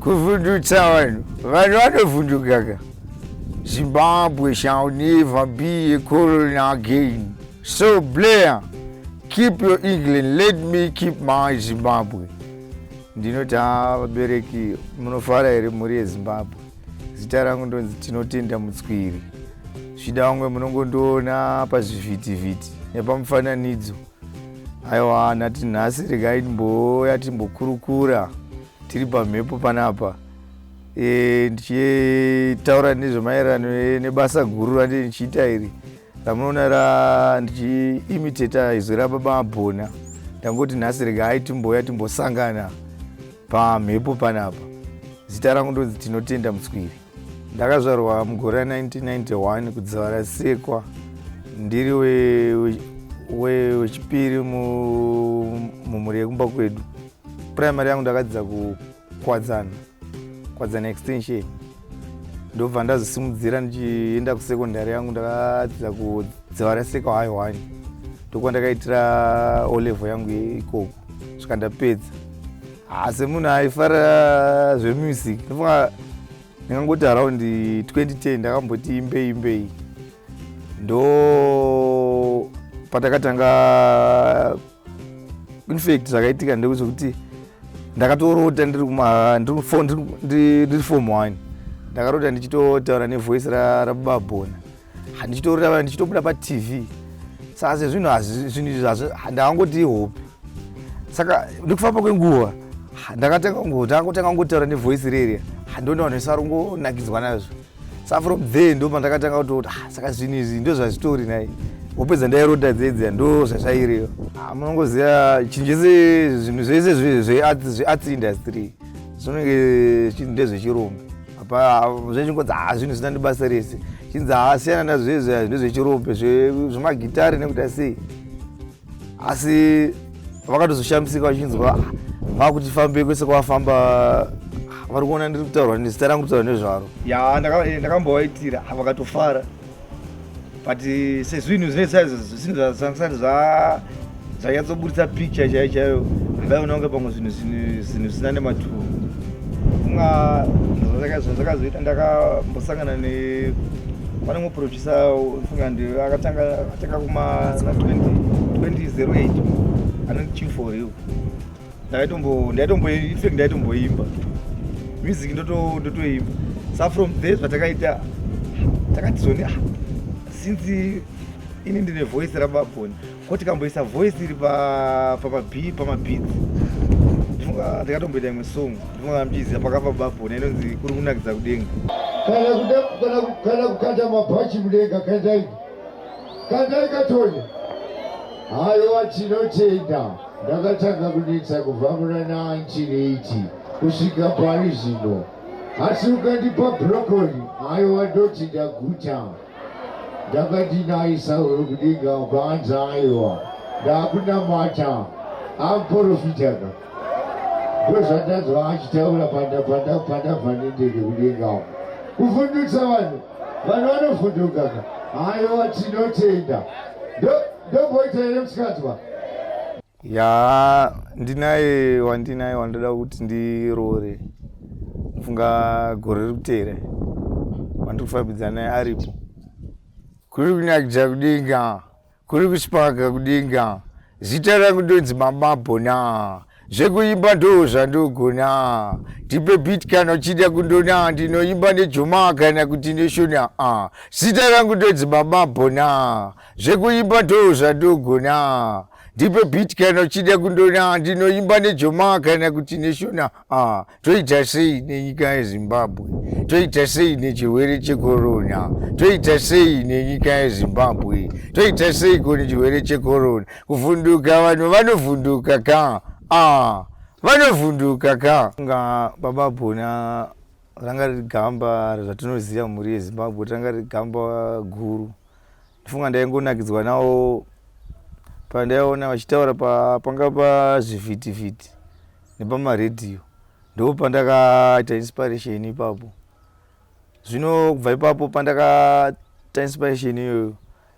kuvhundutsa vanhu vanhu vanovhundukaka zimbabwe shall never be a colony again so blair keep your england let me keep my zimbabwe ndinoti ha vabereki munofara here mhuri yezimbabwe zita rangu ndonzi tinotenda mutswiri zvida vamwe munongondiona pazvivhitivhiti nepamufananidzo aiwa nati nhasi regai ndimbouya timbokurukura tiri pamhepo panapa e, ndichitaura nezvemaererano e, nebasa guru randiri ndichiita iri ramunoona ra ndichiimiteta izwi rababa abhona ndangoti nhasi rega ai timboya timbosangana pamhepo panapa zita rangu ndonzi tinotenda mutswiri ndakazvarwa mugore ra 1991 kudzivara sekwa ndiri wechipiri we, we mumhuri yekumba kwedu primary yangu ndakadzidza kukwadzana kwadzana extension ndobva ndazosimudzira ndichienda kusecondary yangu ndakadzidza kudziva raseka high one ndokuva ndakaitira olevel yangu ikoko svika ndapedza haasi munhu aifara zvemusic ndofunga ndingangoti around 2010 ndakamboti imbei imbei ndo patakatanga infact zvakaitika ndekuti ndakatorota ndiri fom one ndakarota ndichitotaura nevoice rababa bona handichitorota ndichitobuda patv saka sezvinhu zvinhu izvi zvazvo ndakangoti ihope saka nekufamba kwenguva ndakatanga kungotanga kungotaura nevoice rerya handoona vanhu vese vari kungonakidzwa nazvo sa from there ndo pandakatanga kutoti ah, saka zvinhu izvi ndo zvazvitori nai wopedza ndairota dzedzia ndo zvazvairiyo ah, munongoziva chinhu chese zvinhu zvese zvearts industry zvinenge chinhu ndezvechirombe apa zvechingonzi ha ah, zvinhu zvisina ndibasa rese chinzi hasiyana ah, nazvezvi ndezvechirombe zvemagitare nekuti asei asi vakatozoshamisika vachinzwa vakutifambei kwese kwavafamba vari kuona ndiri kutaurwa nezita rangu kutaura nezvaro ya eh, ndakambovaitira vakatofara but eh, sezvinhu zvinesaizozvisati zvanyatsoburitsa picture chaiyo chaiyo vaiona kunge pamwe zvinhu zvinhu zvisina nematuro zvandakazoita ndakambosangana ne pane mumwe producer funga ndi akatanga atanga kuma 2008 anoti chief for you ndaitombo ndaitombo infact ndaitomboimba music ndotoimba sa from there zvatakaita takatizoni ah, since ini ndine voice rababoni ko tikamboisa voice iri pamabeats pa, pa, pa ndikatomboita imwe song ndinoona mchiziva pakapa babona inonzi kuri kunakidza kudenga kana kukanda mabhachi mudenga kandai kandai katonya haiwa tinotenda ndakatanga kunetsa kubva muna 1980 kusvika pari zvino asi ukandipa brokoli haiwa ndoti ndaguta ndakati nayi sauro kudinga kwanzi aiwa ndakunamata amporofitaka ndozvandanzwa achitaura pandabva nendege kudinga kuvhundutsa vanhu vanhu vanovhundukaka aiwa tinotenda ndomboita here musikanzwa yaa ndinaye wandinaye wandoda kuti ndiroore funga gore riri kuteera wandiri kufambidza naye aripo kuri kunakidza kudenga kuri kuspaka kudenga zita rangu ndonzi mamabhona zvekuimba ndoo zvandogona tipe bit kana uchida kundona ndinoimba nejoma kana kuti neshona a zita rangu ndonzi mamabhona zvekuimba ndoo zvandogona ndipe bit kana uchida kundona ndinoimba nejoma kana kuti neshona ah, toita sei nenyika yezimbabwe toita sei nechirwere chekorona toita sei nenyika yezimbabwe toita sei ko nechirwere chekorona kuvhunduka vanhu vanovhunduka ka ah, vanovhunduka ka nga baba bona ranga riri gamba zvatinoziva mhuri yezimbabwe ranga riri gamba guru Ndifunga ndaingonakidzwa nawo pandaiona vachitaura panga pazvivhitivhiti nepamaredhiyo ndo pandakaita inspiration ipapo zvino kubva ipapo pandakaita inspiration iyoyo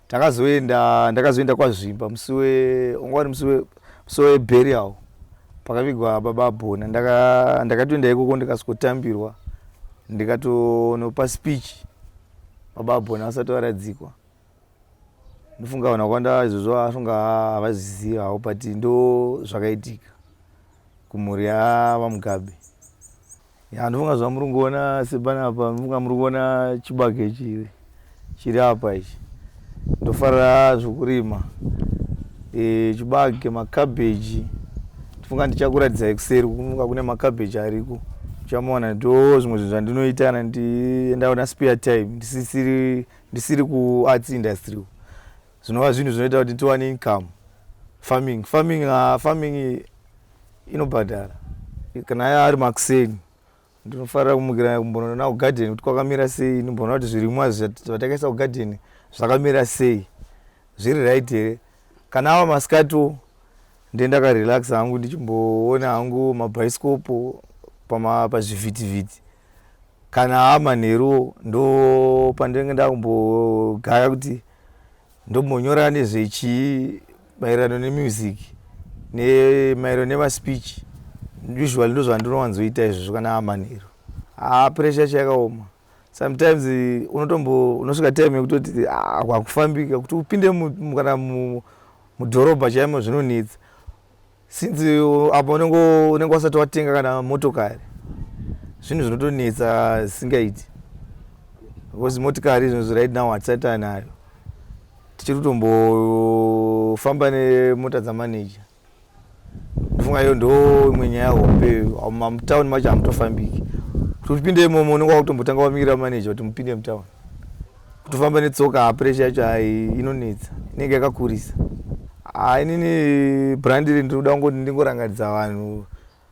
takazoenda ndakazoenda kwazvimba musi wanga wari musi weburial pakavigwa baba abhona ndakatoenda ikoko ndikasviko tambirwa ndikatonopa speech Baba Abhoni vasati varadzikwa ndofunga vanhu vakwanda izvozvo vafunga havazviziva havo but ndo zvakaitika kumhuri yavamugabe ya ndofunga zvamuri kuona sepanapa ndofunga muri kuona chibage chiri chiri apa ichi Ndofarira zvekurima e, chibage makabheji tifunga ndichakuratidzai kuseri kufunga kune makabheji ariko uchamuona ndo zvimwe zvinhu zvandinoita na ndienda una spare time ndisisiri ndisiri kuarts industry uku zvinova zvinhu zvinoita kuti tiwane income farming farming uh, farming inobhadhara kana ari makuseni Ndinofarira kumukira kumbonoona kugadheni kuti kwakamira sei, ndimboona kuti zvirimwa zvatakaisa kugadheni zvakamira sei, zviri right here. Kana ava masikatiwo ndendakarelaxa hangu ndichimboona hangu mabhaisikopo pazvivhitivhiti kana amanheruwo ndo pandenge ndakumbogaya kuti Ndombonyora nezvechii maererano nemusic nemaererano nemaspeech usually ndozvandinowanzoita izvozvo kana amanheru haa ah, pressure yacho yakaoma sometimes unotombo unosvika time yekutoti ah, hakufambika kuti upinde kana mudhorobha chaimo zvinonetsa since apa unenge wasati watenga kana motokari zvinhu zvinotonetsa zvisingaiti because motikari izvozvo right now hatisati anayo tichiri kutombofamba nemota dzamaneja ndofunga iyo ndo imwe nyaya hombe mutown macho hamutofambiki kuti upinde imomo unenge wakutombotanga wamira maneja kuti mupinde mutown kutofamba netsoka ah, pressure yacho hai inonetsa inenge yakakurisa ah, inini brand iri ndinoda kungoti ndingorangaridza vanhu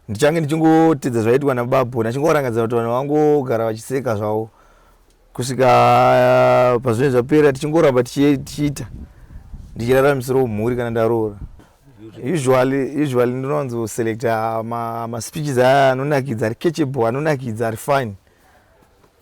ndichange ndichingotedza zvaitwa nababho ndachingorangadza kuti vanhu vangogara vachiseka zvavo kusvika ah, pazvinenge zvapera tichingoramba tichiita ndichiraramisirawo mhuri kana ndaroora usually usually ndinowanzo selecta maspeeches aya anonakidza ari catchable anonakidza ari fine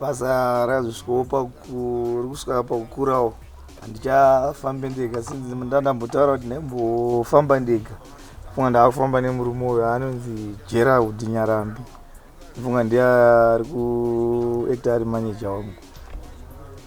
basa rakazosvikopa rikusvika pakukurawo handichafambe ndega sinzi ndandambotaura kuti ndaimbofamba ndega funga ndaakufamba nemurume uyo anonzi gerald nyarambi funga ndiye ari kuekta ari maneja wangu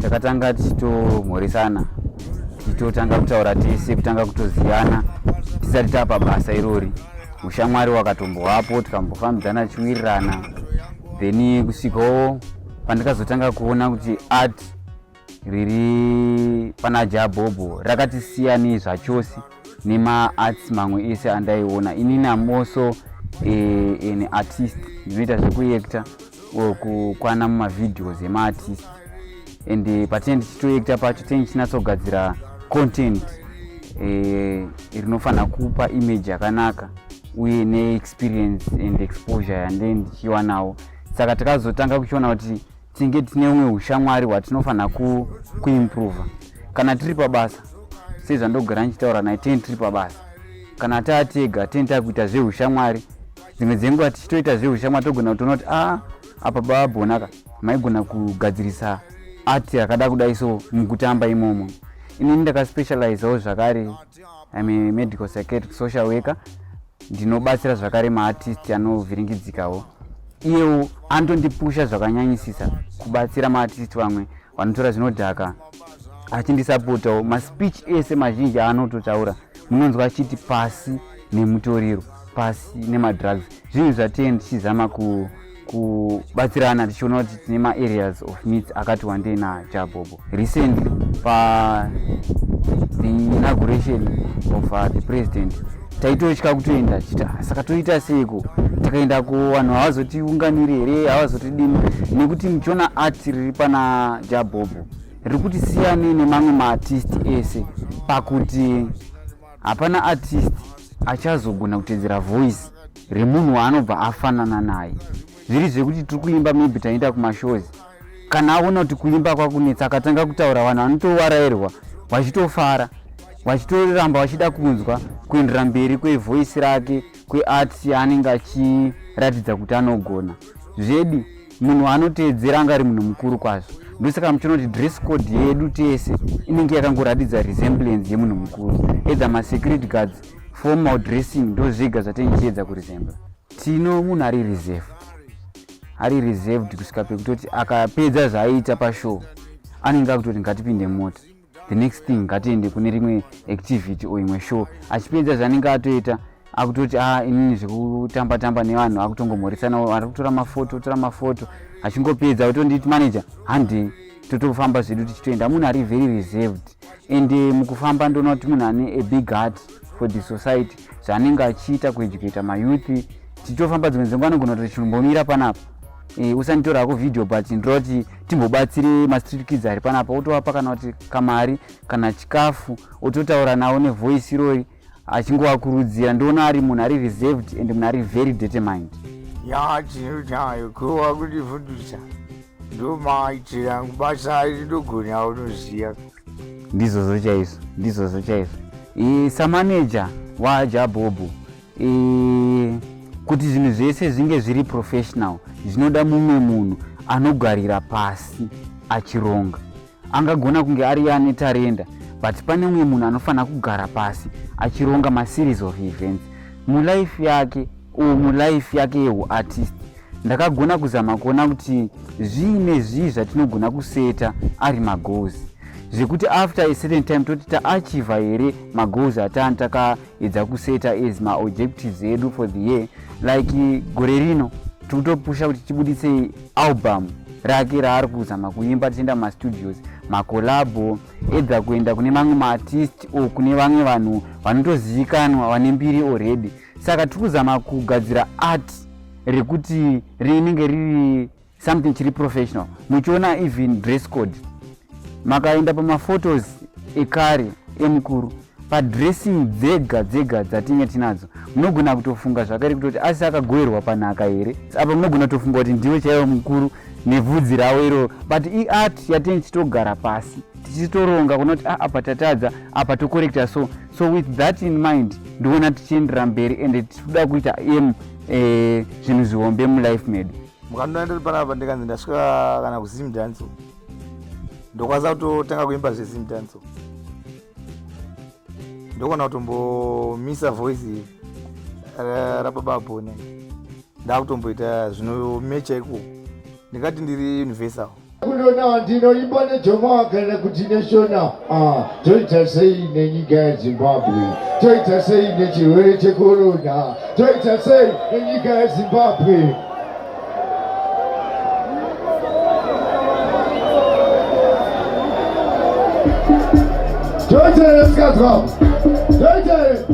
takatanga tichitomhoresana tichitotanga kutaura tese kutanga kutoziyana tisati tapa basa irori ushamwari wakatombowapo tikambofambidzana tichiwirirana then kusvikawo pandikazotanga kuona kuti art riri pana jabhobho rakatisiyanei zvachose nemaarts mamwe ese andaiona inini am also eh, an artist ndinoita zvekuekta or kukwana mumavideos emaartist and eh, patinenge tichitoekta pacho tinenge tichinatsogadzira content eh, rinofanira kupa image yakanaka uye neexperience and exposure yande ndichiwanawo saka takazotanga kuchiona kuti tinenge tine umwe ushamwari hwatinofanira kuimprova kana tiri pabasa sezvandogara ndichitaura naye teni tiri pabasa kana taatega teni takuita zveushamwari dzimwe dzenguva tichitoita zveushamwari togona kutoona kuti a ah, apa babonaka maigona kugadzirisa ati yakada kudai so mukutamba imomo inini ndakaspecializawo zvakare I'm a medical psychiatric social worker ndinobatsira zvakare maartist anovhiringidzikawo iyewo anotondipusha zvakanyanyisisa kubatsira maartist vamwe vanotora zvinodhaka achindisapotawo maspeech ese mazhinji aanototaura munonzwa achiti pasi nemutoriro pasi nemadrugs zvinhu zvatee ndichizama ku kubatsirana tichiona kuti tine maareas of needs akati wandei najabobo recently pa the inauguration of uh, the president taitotya kutoenda chita ah, saka toita seiko takaenda ku vanhu havazotiunganiri here havazotidini nekuti muchiona art riri pana jabobo riri kuti siyane nemamwe maartist ese pakuti hapana artist achazogona kutedzera voice remunhu waanobva afanana naye zviri zvekuti tiri kuimba maybe taenda kumashows kana aona kuti kuimba kwakunetsa akatanga kutaura vanhu vanotowarairwa vachitofara vachitoramba vachida kunzwa kuendera mberi kwevoice rake kwearts yaanenge achiratidza kuti anogona zvedi Munhu anoteedzera anga ari munhu mukuru kwazvo. Ndosaka muchiona kuti dress code yedu tese inenge yakangoratidza resemblance yemunhu mukuru. Either masecurity guards, formal dressing ndozvega zvatinenge tichiedza kuresembla. Tino munhu ari reserved. Ari reserved kusvika pekutoti akapedza zvaaiita pashow anenge akutoti ngatipinde mota. the next thing ngatiende kune rimwe activity or imwe show achipedza zvanenge atoita akutoti a ah, inini zvekutamba tamba nevanhu akutongomoresana ari kutora mafoto tora mafoto achingopedza otonditi manager handei totofamba zvedu tichitoenda munhu ari very reserved and eh, mukufamba ndoona kuti munhu ane a big heart for the society zvaanenge achiita kueducata mayouth tichitofamba dzimwe dzenguva anogona kuti chinombomira panapa e, usanditora hako video but ndira kuti timbobatsire mastreet kids ari panapa otovapa kana kuti kamari kana chikafu ototaura navo nevoice irori achingovakurudzira ndoona ari munhu ari reserved and munhu ari very determined ya tinotayo kuva kuti fundisa ndomaaitira basa iri ndogona unoziva ndizvozvo chaizvo ndizvozvo chaizvo samaneja waajabhobhu kuti zvinhu zvese zvinge zviri professional zvinoda mumwe munhu anogarira pasi achironga angagona kunge ari ane tarenda but pane umwe munhu anofanira kugara pasi achironga maseries of events mulife yake or mulife yake yeuartist ndakagona kuzama kuona kuti zvii nezvii zvatinogona kuseta ari magoals zvekuti after a certain time toti taachiva here magoals atani takaedza kuseta as maobjectives edu for the year like gore rino tiri kutopusha kuti tibudise album rake raari kuzama kuimba tichienda mumastudios makolabo edha kuenda kune mamwe maartist o kune vamwe vanhu vanotozivikanwa vane mbiri already saka tiri kuzama kugadzira art rekuti rinenge riri something chiri professional muchiona even dress code makaenda pamaphotos ekare emukuru padressing dzega dzega dzatinge tinadzo munogona kutofunga zvakare kutoti asi akagoerwa panhaka here apa munogona kutofunga kuti ndiwe chaivo mukuru nebvudzi ravo iroro but iart yatenge tichitogara pasi tichitoronga kunoti ah, apa tatadza apa tokorekta so so with that in mind ndiona tichiendera mberi and tikuda kuita aim eh, zvinhu zvihombe mulife medu mukandona ndiri panapa ndikanzi ndasvika kana kuzim danso ndokwanisa kutotanga kuimba zvezim danso ndokona kutombomisa voice rababa bone ndakutomboita zvinomecha iko ndingati ndiri universal kunona ndinoimba nejomaa kana kuti neshona ah, toita sei nenyika yezimbabwe toita sei nechirwere chekorona toita sei nenyika yezimbabwe toita here sikazwa toita here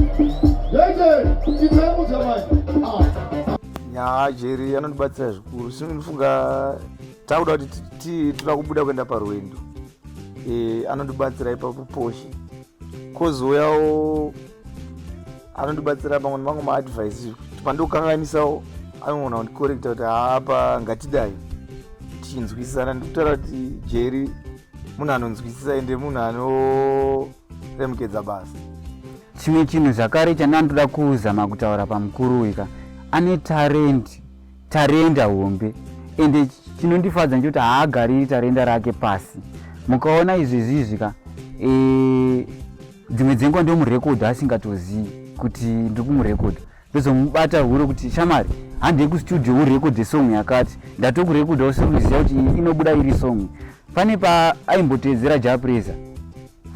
toita here itaimudza manje ah. nyaya jeri anondibatsira zvikuru sinofunga takuda kuti toda kubuda kuenda parwendo e, anondibatsira ipapo poshe kozouyawo anondibatsira pamwe nemamwe maadvice kuti pandikukanganisawo anogona kundikorekta kuti haapa ngatidai tichinzwisisana ndikutaura kuti jeri munhu anonzwisisa ende munhu anoremekedza basa chimwe chinhu zvakare chandandoda kuzama kutaura pamukuru uyu ka ane tarendi tarenda hombe ende chinondifadza ndechoti haagariri tarenda rake pasi mukaona izvezvizvi ka e, dzimwe dzenguva ndomurekodha asingatozivi kuti ndiri kumurekodha ndozomubata huro kuti shamari handei kustudio urekodhe song yakati ndatokurekodha usiruziva kuti inobuda iri song pane paaimboteedzera japresa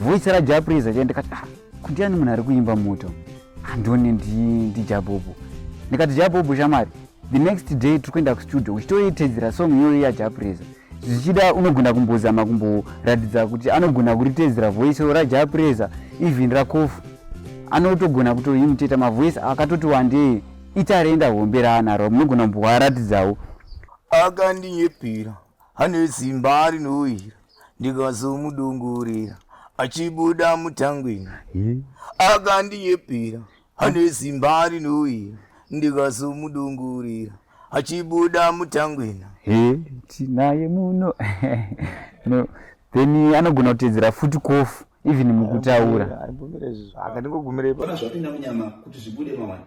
voice rajapresa chandikati ah, kundiani munhu ari kuimba moto andoni ndijabobo ndikati jabobo shamari the next day tiri kuenda kustudio uchitoitedzera song iyoyo yajapreza zvichida unogona kumbozama kumboratidza kuti anogona kuritedzera voice rajapreza even rakofu anotogona kutoimiteta mavoice akatoti wandei itarenda hombe raanaro munogona kumboaratidzawo akandinyepera ane zimba rinohwira ndikazomudungurira achibuda mutangwini akandiyepira ane zimba rinoira ndikazomudungurira achibuda mutangwina tinaye muno no then anogona kutedzera futi kofu even mukutaura akandingogumirepo zvapinda munyama kuti zvibude mawana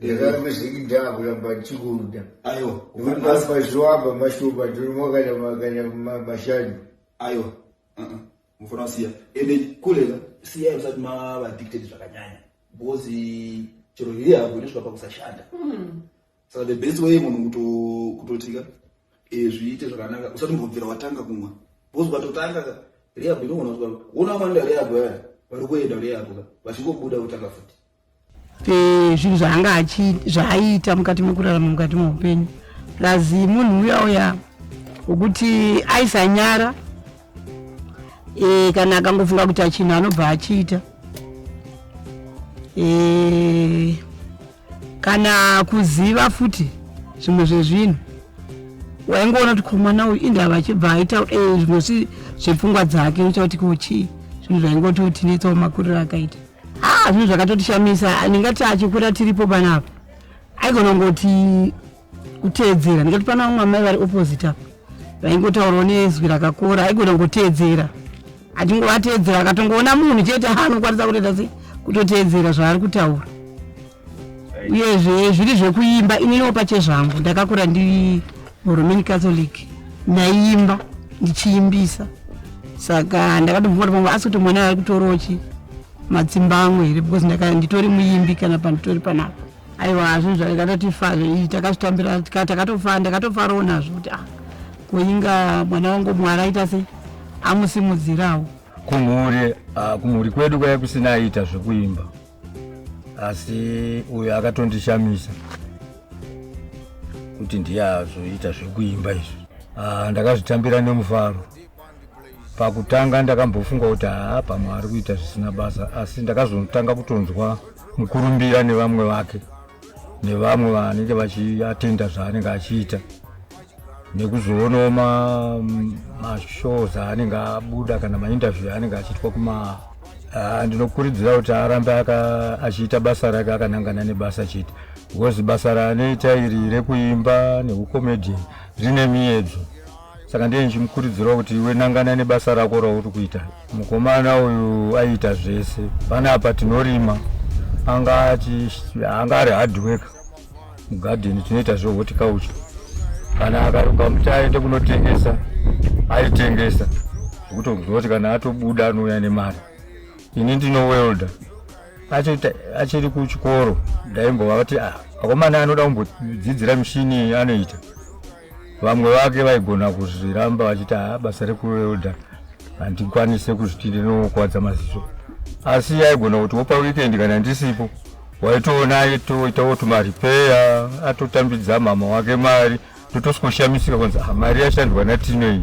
ndakangozvikidhaa kuramba ndichikuda aiwa nekuti pasi pazviwamba mashupa ndinomakanya makanya mashanu aiwa uh-uh. mufana siya ende kulela siya usati mava addicted zvakanyanya because chero hiri yavo inosvika pakusashanda hmm. saka the best way munhu kutotika eh, zviite zvakanaka usati mbobvira watanga kumwa because ukatotanga ka rehab inoona wona wanda rehab vaya vari kuenda rehab ka vachingobuda kutanga futi Eh, zvinhu zvaanga zvaaiita mukati mekurarama mukati meupenyu plus munhu uya uya wekuti aisanyara eh, kana akangofunga kuti achinhu anobva achiita eh, kana kuziva futi zvimwe zvezvinhu waingoona kuti komwana uyu indava achibva aita zvimwe zvepfungwa dzake uchakuti kuchii zvinhu zvaingoti utinetsawo makuriro akaita haa zvinhu zvakatotishamisa ndingati achikura tiripo panapa aigona kungoti kuteedzera ndingati pana vamwe amai vari opposite apa vaingotaurawo nezwi rakakora aigona kungoteedzera atingovateedzera akatongoona munhu chete anokwanisa kutoita se kutoteedzera zvaari kutaura uyezve zviri zvekuimba ininiwo pachezvangu ndakakura ndiri muroman catholic ndaiimba ndichiimbisa saka ndakatobvumara pamwe asi kuti mwana ari kutorochi matsimba amwe here because ndaka nditori muimbi kana panditori panapa aiwa hazvo zvakatotifa zvii takazvitambira takatofa ndakatofarawo nazvo kuti ah koinga mwana wangu mwari aita sei amusimudzirawo kumhuri ah, kumhuri kwedu kwaiya kusina aita zvekuimba asi uyo akatondishamisa kuti ndiye azoita zvekuimba izvi ah, ndakazvitambira nemufaro pakutanga ndakambofunga kuti haa pamwe ari kuita zvisina basa asi ndakazotanga kutonzwa mukurumbira nevamwe vake nevamwe vanenge vachiatenda zvaanenge achiita nekuzoonawo mashows aanenge abuda kana mainterview aanenge achiitwa kuma ah, ndinokurudzira kuti arambe achiita basa rake akanangana nebasa chete because basa raanoita iri rekuimba neukomedian rine miyedzo saka ndiye ndichimukurudzirawo kuti iwe nangana nebasa rako rauri kuita Mukomana uyu aiita zvese. Panapa tinorima. Anga achi anga ari hard work. Mugarden tinoita zve horticulture. Kana akaruka muti aende kunotengesa aitengesa. Kutokuziva kuti kana atobuda anouya nemari. Ini ndino welder. Achiri kuchikoro ndaimbovati ah akomana anoda kumbodzidzira mishini anoita. vamwe vake vaigona kuzviramba vachiti haa basa rekuelda handikwanise kuzviti ndinokwadza maziso asi yaigona kuti wopa weekend kana ndisipo waitoona aitoitawo tumaripeya atotambidza mama wake mari totosikoshamisika kwanzi ah, mari yashandwa natinei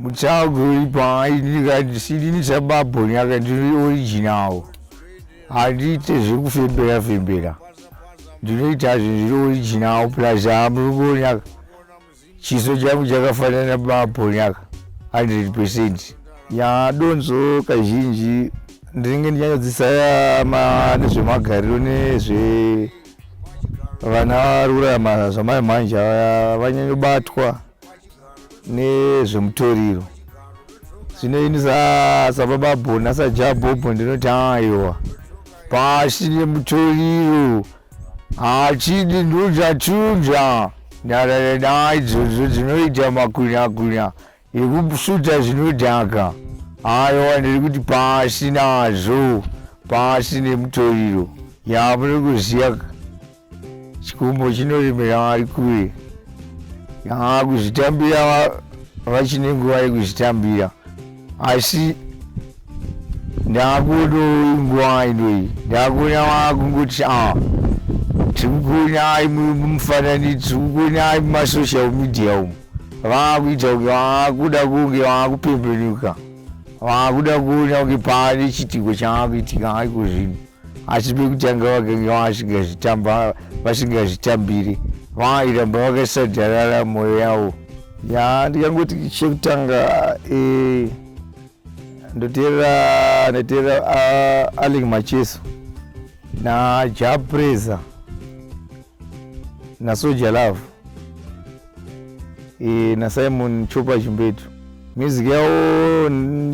mutsago uri paai ndikandisini ndisababho nyaka ndiri original handiite zvekufembera fembera ndinoita zvinhu zviri original plus hamuri kuonaka chiso changu chakafanana babho nyaka 100 percent ya donzo kazhinji ndinenge ndinyanyadzisaya nezvemagariro nezve vana varurama zvamai mhanje vanyanyobatwa nezvemutoriro zvino ini sababa bhona sajabhobho ndinoti aiwa pasi nemutoriro hachidi ndozvatunza ndarara naidzodzo dzinoita makunakuna ekusuta zvinodhaka aiwa ndiri kuti pasi nazvo pasi nemutoriro yamunokuziva Chikumbo chinoremera vari kure yaa kuzvitambira vachine nguva yekuzvitambira asi ndakuono nguva inoi ndakuona vakungoti a ah, tiri kukuonai mufanani tiri kukuonai mumasocial media umu vakuita kunge vakuda kunge vakupembenuka vakuda kuona kunge paane chiitiko chavakuitika ariko zvino asi pekutanga vakanga vasingazvitamba vasingazvitambiri vairamba vakasajarara mwoyo yavo ya ndikangoti chekutanga eh, ndoteerera ndoteerera uh, aling macheso najapreza nasoja love e, nasimon chopa chimbetu music yavo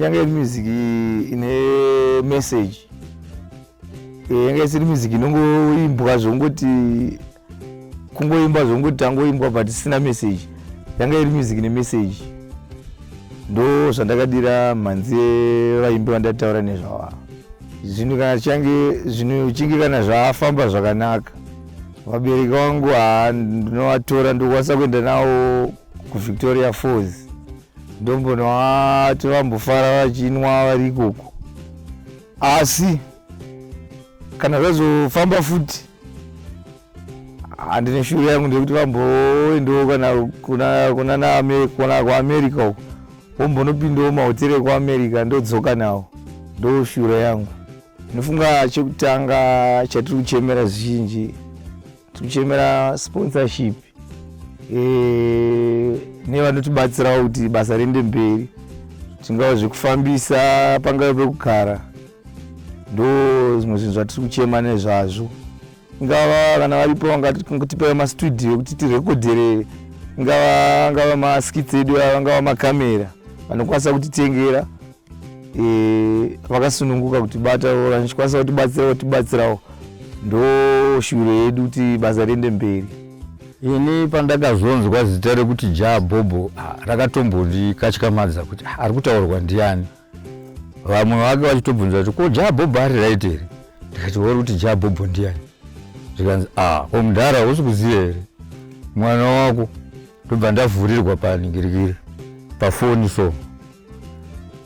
yanga iri music ine message e, yanga isiri music inongoimbwa zvongoti kungoimba zvongoti tangoimbwa but isina message yanga iri music ine message ndo zvandakadira mhanzi vaimbi vandataura nezvawaa zvinhu kana change zvinhu chinge kana zvafamba zvakanaka vabereki vangu haa ndinovatora ndokwanisa kuenda nawo kuvictoria falls ndombonowati vambofara vachinwa vari ikoko asi kana zvazofamba futi handine shuri yangu ndekuti vamboendawo kana kuna kuamerica uko vombonopindawo mahoteri ekuamerica ndodzoka nawo ndoshura yangu Ndinofunga chekutanga chatiri kuchemera zvinji tiri kuchemera sponsorship eh, nevanotibatsirawo kuti basa riende mberi zvingava zvekufambisa pangave pekugara ndo zvimwe zvinhu zvatiri kuchema nezvazvo ingava kana varipo vangatipewa mastudio ekuti tirekodherere ingava angava maskits edu angava makamera vanokwanisa kutitengera e, vakasununguka kuti bata vachikwanisa kutibatsira vatibatsirawo ndo shuviro yedu kuti basa riende mberi ini pandakazonzwa zita rekuti jaa bhobho rakatombondikatyamadza kuti ari kutaurwa ndiani vamwe vake vachitobvunza kuti ko jaa bhobho ari raiti here ndikati wori kuti jaa bhobho ndiani zvikanzi a omudhara hausi kuziva here mwana wako ndobva ndavhurirwa paningirikiri pafoni so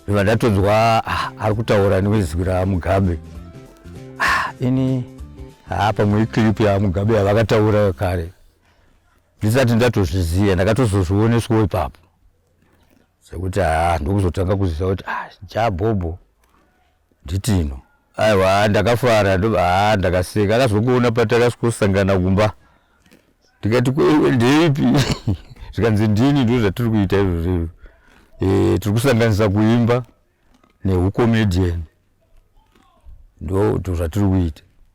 ndobva ndatonzwa ah, ari kutaura nezwi ramugabe ah, ini haa pamwe iclip yamugabe yavakataura kare ndisati ndatozviziva ndakatozozvioneswo ipapo sekuti haa ndokuzotanga kuziva kuti ah, jabhobho Nditino. Aiwa haa ndakafara ndobva haa ndakaseka akazongoona patakasangana kumba ndikati kweiwe ndeipi zvikanzi ndini ndo zvatiri kuita izvozvo e, tiri kusanganisa kuimba neucomedian ndo zvatiri kuita